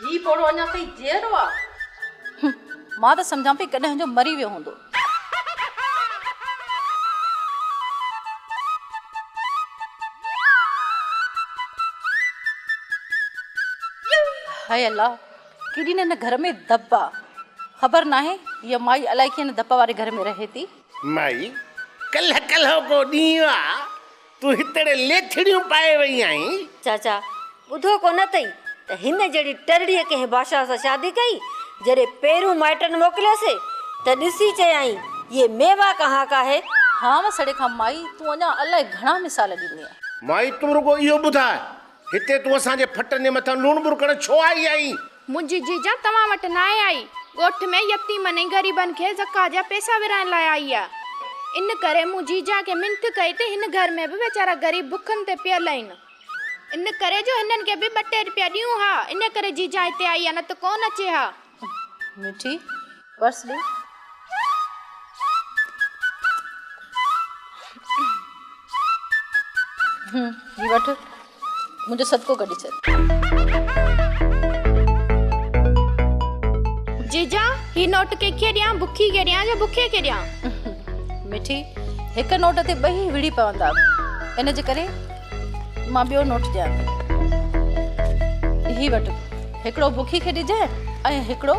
هي پوڙهو اڃا تائين جيئرو آ. هم. مان ته سمجهان پئي ڪڏهن جو مري ويو هوندو. هاء الله! ڪيڏي نه هن گهر ۾ ڌپ آ. خبر ناهي هيء مائي الائي ڪنهن ڌپ واري گهر ۾ رهي ٿي. مائي، ڪلهه ڪلهو ڪو ڏينهن آ، تون هتڙي ليٿڙيون پائي وئي آهين. چاچا، ٻڌو ڪو نه اٿئي ته هن جهڙي ٽرڙيء ڪنهن بادشاهه سان شادي ڪئي، جڏهن پيرون مائٽن موڪليس ته ڏسي چيائين، يي ميوا ڪهان ڪا هي. هانء سڙي کان مائي، تون اڃا الائي گهڻا مثال ڏيندينء. مائي، تون رڳو اهو ٻڌاء هتي تون اسان جي ڦٽن جي مٿان لوڻ ٻرڪڻ ڇو آئي آهين؟ منهنجي جيجان توهان وٽ ناهي آئي. ڳوٺ ۾ يتيمن ۽ غريبن کي زڪوات جا پئسا ورهائڻ لاء آئي آ. ان ڪري مون جيجان کي منٿ ڪئي ته هن گهر ۾ به ويچارا غريب بکن تي پيل آهن. ان ڪري جو هنن کي به ٻه ٽي رپيا ڏيون ها. ان ڪري جيجان هتي آئي آ نه ته ڪونه اچي ها. مٺي پرس ڏي. هي وٺ منهنجو صدقو ڪڍي ڇڏ. جيجا هي نوٽ ڪيکي ڏيان بکي کي ڏيان يا بکي کي ڏيان. مٺي هڪ نوٽ تي ٻئي وڙهي پوندا ان جي ڪري مان ٻيو نوٽ ڏيان ٿي. هي وٺ. هڪڙو بکي کي ڏجانء ۽ هڪڙو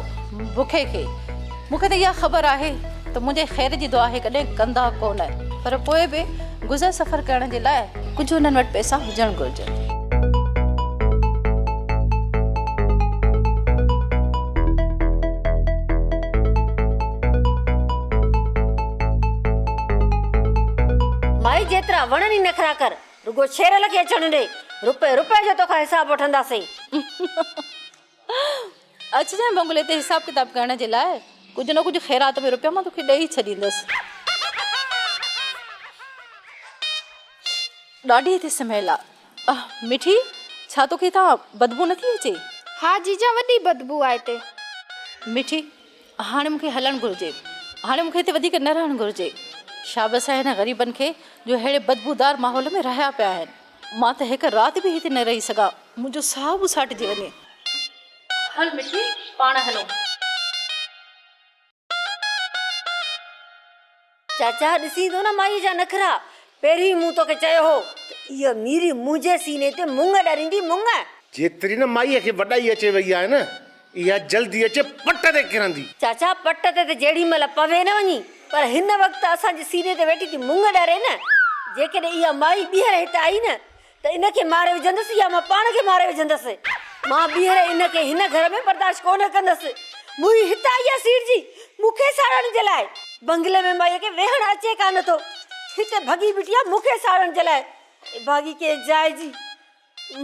بکي کي. مون کي ته اها خبر آهي ته منهنجي خير جي دعا هي ڪڏهن ڪندا ڪونه، پر پوء به گذر سفر ڪرڻ جي لاء ڪجهه هنن وٽ پئسا هجڻ گهرجن. مائي جيترا وڻن ئي نخرا ڪر، رڳو شيرل کي اچڻ ڏي، رپئي رپئي جو توکان حساب وٺنداسين. اچجانء بنگلي تي حساب ڪتاب ڪرڻ جي لاء، ڪجهه نه ڪجهه خيرات ۾ رپيا مان توکي ڏئي ئي ڇڏيندس. ڏاڍي ٿي سميل آ. اهه مٺي، ڇا توکي هتان بدبو نٿي اچي؟ ها جيجا وڏي بدبو آ هتي. مٺي، هاڻي مون کي هلڻ گهرجي. هاڻي مون کي هتي وڌيڪ نه رهڻ گهرجي. شابس آهي انهن غريبن کي جو اهڙي بدبودار ماحول ۾ رهيا پيا آهن. مان ته هڪ رات به هتي نه رهي سگهان. منهنجو ساهه به ساٽجي وڃي. هل مٺي پاڻ هلون. چاچا ڏسين ٿو نه مائيء جا نخرا، پهريون ئي مون توکي چيو هو ته اها ميري منهنجي سيني تي مڱ ڏريندي، مڱ! جيتري نه مائيء کي وڏائي اچي وئي آهي نه، اها جلدي اچي پٽ تي ڪرندي. چاچا پٽ تي ته جهڙي مهل پوي نه وڃي، پر هن وقت اسان جي سيني تي ويٺي ٿي مڱ ڏري نه! جيڪڏهن اها مائي ٻيهر هت آئي نه، ته ان کي ماري وجهندس يا مان پاڻ کي ماري وجهندس. مان ٻيهر ان کي هن گهر ۾ برداشت ڪونه ڪندس. مون ئي هت آئي آهي سيٺ جي، مون کي ساڙڻ جي لاء. بنگلي ۾ مائيء کي ويهڻ اچي ڪا نه ٿو. هتي ڀڳي بيٺي آهي مون کي ساڙڻ جي لاء. ڀاڳي ڪنهن جاء جي.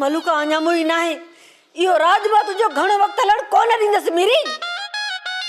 ملوڪا اڃا موئي ناهي. اهو راڄ مان تنهنجو گهڻو وقت هلڻ ڪونه ڏيندس ميري.